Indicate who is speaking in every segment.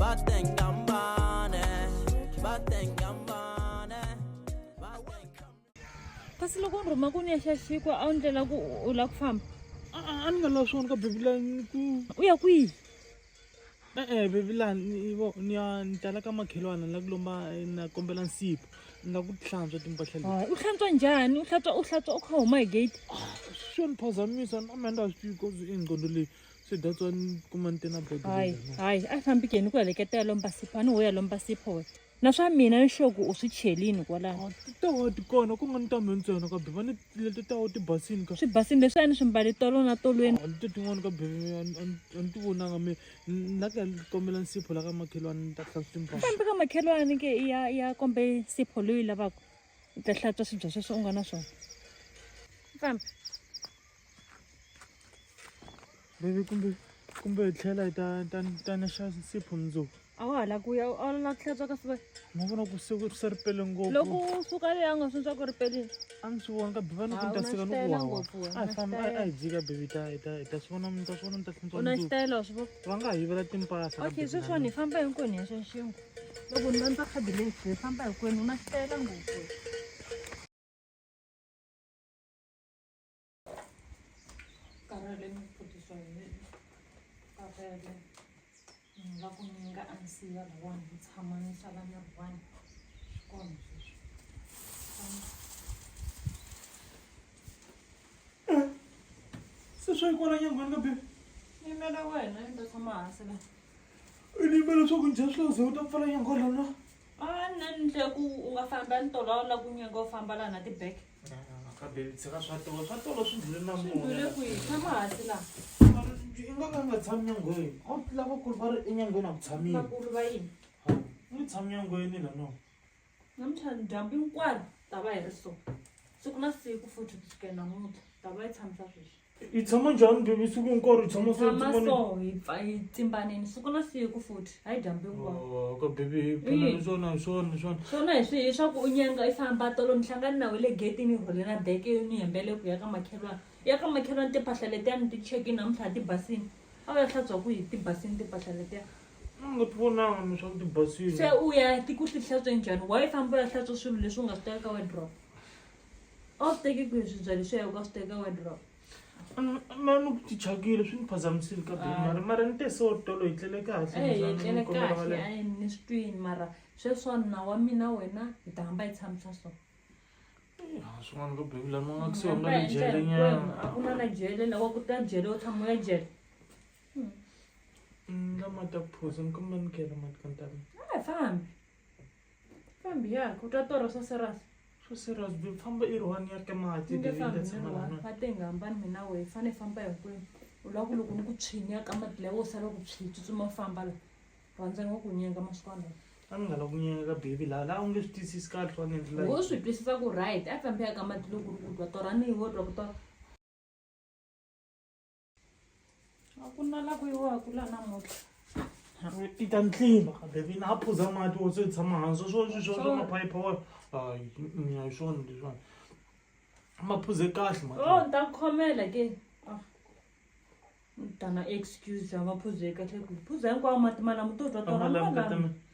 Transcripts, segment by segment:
Speaker 1: batengambane batengambane
Speaker 2: kasi loko ni rhuma ku ni ya xaxikwa a wu ndlela ku u lava ku famba a ni nga lavi
Speaker 3: swona ka bebilani ku u ya kwihi
Speaker 2: e-e bebilani
Speaker 3: vo ni ya ni tala ka makhelwana ni la ku lomba eh, na kombela nsipa ni la ku hlantswa timpahla leti u hlantswa njhani
Speaker 2: u hlantswa u hlantswa u kha huma hi gate swo ni
Speaker 3: phazamisa na menda a swi tivi koze ingqondo leyi swi dya tswani kuma ni tena bodo hayi hayi a fambi
Speaker 2: keni ku heleketa ya lomba sipho a ni ho ya lomba sipho wena na swa mina ni xoku u swi chelini kwalaho tawo ti kona
Speaker 3: ku nga ni tambe ntsena ka beva ni leti tawo ti basini ka swi basini leswi a ni swi mbali
Speaker 2: tolo na tolweni leti tin'wana ka beve
Speaker 3: a ni ti vonanga mi la ka kombela nsipho la ka makhelwani ni ta hlantswa timbaa kambe ka makhelwani ke
Speaker 2: ya ya kombe nsipho loyi lavaka u ta hlantswa swidya sweswo u nga na swona fambi
Speaker 3: Baby kumbe kumbe hi tlhela hi ta ta ta na xa nsipho mundzuku a wa ha la ku ya
Speaker 2: a wu la ku hlantswa ka siva ma vona ku se ku
Speaker 3: se ri pele ngopfu loko u suka leyi a
Speaker 2: nga swintswa ku ri pelini a mi swi vona ka
Speaker 3: biva ni ku ni ta sika ni ku wawa a hi famba a hi dzika bibi ta hi ta hi ta swi vona mi ta swi vona mi ta hlantswa u na xitayela wa swi
Speaker 2: vona va nga ha yivela timpahla
Speaker 3: okay sweswiwani hi famba
Speaker 2: hinkwenu hi ya xanxinkwa loko ni landza khadi leyi hi famba hinkwenu u na xitayela ngopfu karaleni ku phutiswa hi mina karele ni nga ku ni nga ansiya riwani ni tshama ni sala ni riwani swi kona sweswi
Speaker 3: se swa yikwala nyangwani ka bebe yimela wena
Speaker 2: ni ta tshama hansi la i ni yimela
Speaker 3: leswaku njhe swi laze u ta pfala nyangwani lana a nna ni
Speaker 2: tle ku u nga famba ni tolo a wu la ku nyanga u famba laha na tibeke kabebitseka
Speaker 3: swa tolo swa tolo swi ndlule na mune
Speaker 2: i nga ka
Speaker 3: nga tshami nyangweni a wu lavakulu va ri enyangweni a ku tshamile
Speaker 2: ni tshami
Speaker 3: nyangweni la no namuntlha
Speaker 2: dyambu hinkwaro ta va hi ri so siku na siku futhi ku sukela namuntlha ta va yi tshamisa sweswi hi tshama njhani bebi
Speaker 3: siku hinkwaro hi tshama samaso hi
Speaker 2: pfa hi tsimbaneni siku na siku futhi hayi dyambu hinkwaro oh, ka bebi hi pfuna
Speaker 3: swona hi swona hi swona swona hi swi hi swa ku
Speaker 2: u nyenga i famba tolo ni hlangani na we le getini i rhole na beke yo ni hembele ku ya ka makhelwana ya ka makhelwana timpahla letiya ni ti cheki namuntlha ti basini a wu ya hlantswa ku hi ti basini timpahla letiya nga ti
Speaker 3: vonanga ni swa ku ti basini se u ya ti ku ti
Speaker 2: hlantswe njhani wa yi famba u ya hlantswa swilo leswi u nga swi teka ka wadrop a wu swi teki kwihi swibyali swa yoko a swi teka wadrop
Speaker 3: mani ku ti chakile swi ni phazamisile ka bemari mara ni te so tolo hi tlele kahleetlele eh, kahle
Speaker 2: a ni swi twini mara sweswa na wa mina wena hi ta hamba hi tshamisa so eh,
Speaker 3: swin'wana ka bebula ni nga kusiwa nga ni jele nyana a ku na na jele
Speaker 2: lawa ku ta jele u tshama ya jele hmm.
Speaker 3: mm, lama ta ku phosa ni kumba ni kela mati ka ntamini a hi fambi
Speaker 2: fambi ya ku twa toro swa serasi swo serious byi
Speaker 3: famba i ri one ya ke mati nge fambi ni ri one va
Speaker 2: te hi nga
Speaker 3: hambani mina
Speaker 2: wehe hi fane hi famba hinkwenu u lava ku loko ni ku tshinya ka mati lawo sala ku tswi tsutsuma famba la rhandza ni wa ku nyenga masiku alawa a ni nga la ku nyenga
Speaker 3: ka baby laha laha u nge swi twisisi kahle swa nendlela wo swi twisisa ku right
Speaker 2: a fambi ya ka mati loko ri ku twa torani wo twa ku twa a ku na la ku yiwaka la namuntlha i
Speaker 3: ta ntlimba kambe vina a phuza mati wo se tshama hansi swo swi swa swa maphayipha wa hayi mm, hi swona leswiwani ma phuze kahle mati o oh, ni ta ku khomela
Speaker 2: ke ah. ni ta na excuse ya maphuze kahle ku phuza hinkwawo mati malamo to twa tona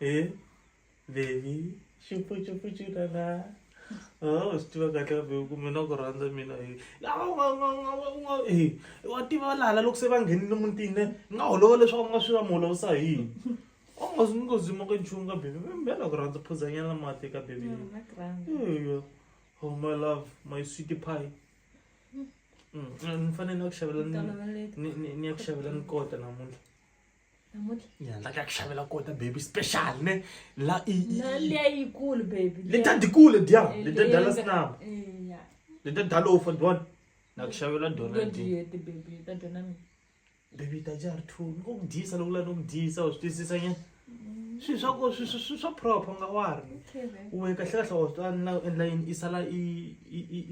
Speaker 3: Eh,
Speaker 2: baby,
Speaker 3: chupu chupu chudana. Oh, usti wakati wa veuku mina kurhandza mina eh. Awu, nga- nga- nga- nga- nga- eh, wa tiva lala loko se va nghenile mutini eh, nga holova leswaku mi nga swi va mi holovisa hi yini u nga zi- mi nga zima ka nchumu ka bebi mina ku rhandza phuzanyana mati ka bebi Mm, na grand.
Speaker 2: Eya.
Speaker 3: oh my love my sweet pie Mm, mm, ni fanele ni ya ku xavela ni- Toloveleke. ni- ni- ni ya ku xavela ni kota namuntlha
Speaker 2: namuntlha ya ku xavela
Speaker 3: kota baby special ne la leyikulu
Speaker 2: baby leta dikulu dia
Speaker 3: eh, leta dala snap eh,
Speaker 2: leta dala ofa
Speaker 3: don na ku xavela dona
Speaker 2: baby ta
Speaker 3: jar two ko ku disa loko la no ku disa u swi twisisa nyana swilo swa ko swi swi swa proper nga wa ri we kahle kahle wa swi na endla yini i sala i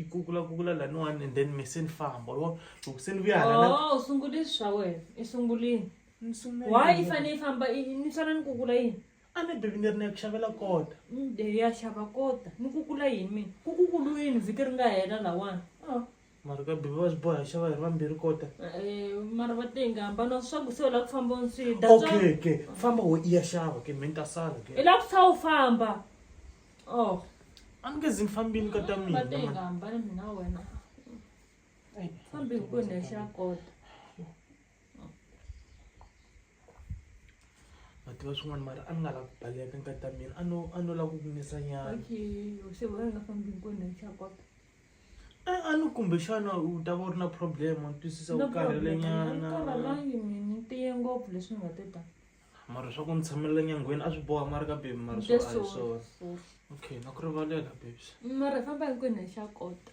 Speaker 3: i kukula kukula laniwani and then me se ni famba lo Choo, se ni vuya hala na oh sungule swilo swa
Speaker 2: wena i sungulini ni sungula why i yini? fane i famba i- i- ni swana ni kukula yini a ni bebi ni ri ni ya
Speaker 3: ku xavela kota Mm, de ya xava
Speaker 2: kota ni kukula yini mina ku kukulu yini vhiki ri nga hela lawani Ah, mara ka
Speaker 3: bebi va swi boha hi xava hi ri vambirhi kota eh, mara va
Speaker 2: tenga hambana swaku se u lava ku famba ni swi dya swa- okay ke famba
Speaker 3: wo i ya xava ke me ni ta sala i ke lava ku sa u famba oh a ni nge zi ni fambini ka ta va mina tenga mani. hambana mina
Speaker 2: wena fambi hi ku ni xa
Speaker 3: kota va tiva swin'wana mara a ni nga lavi ku baleka nkati ta mina a no a no lava ku ku nisa nyana se wena
Speaker 2: nga fambi hi ku ni xa kota a a
Speaker 3: ni kumbexana u ta va u ri na problem wa ni twisisa u karhele nyana karhalangi mina
Speaker 2: tiye ngopfu leswi ni nga te ta mara swa ku ni
Speaker 3: tshamelela nyangweni a swi boha mara ka bebi mara swo a hi swona okay na ku rivalela bebs mara famba hinkwenu
Speaker 2: hi xa kota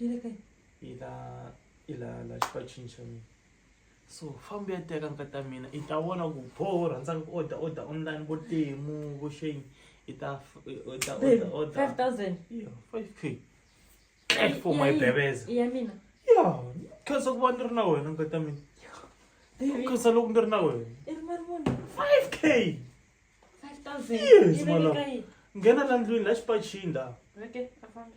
Speaker 3: yi le kae yi la yi la la xipacini xa mina so fambi ya teka nka ta mina i ta vona ku pho rhandzaka ku order order online vo temu vo shame i ta f- i- i ta order order 5000 Yeah,
Speaker 2: 5k
Speaker 3: Thank for my bebeza ya mina ya khensa ku va ni ri na wena nka ta mina baby khensa loko ni ri na wena i ri
Speaker 2: mali muni 5k 5000 Yes, yi le mala.
Speaker 3: kae nghena la
Speaker 2: ndlwini la
Speaker 3: xipacini la okay afambi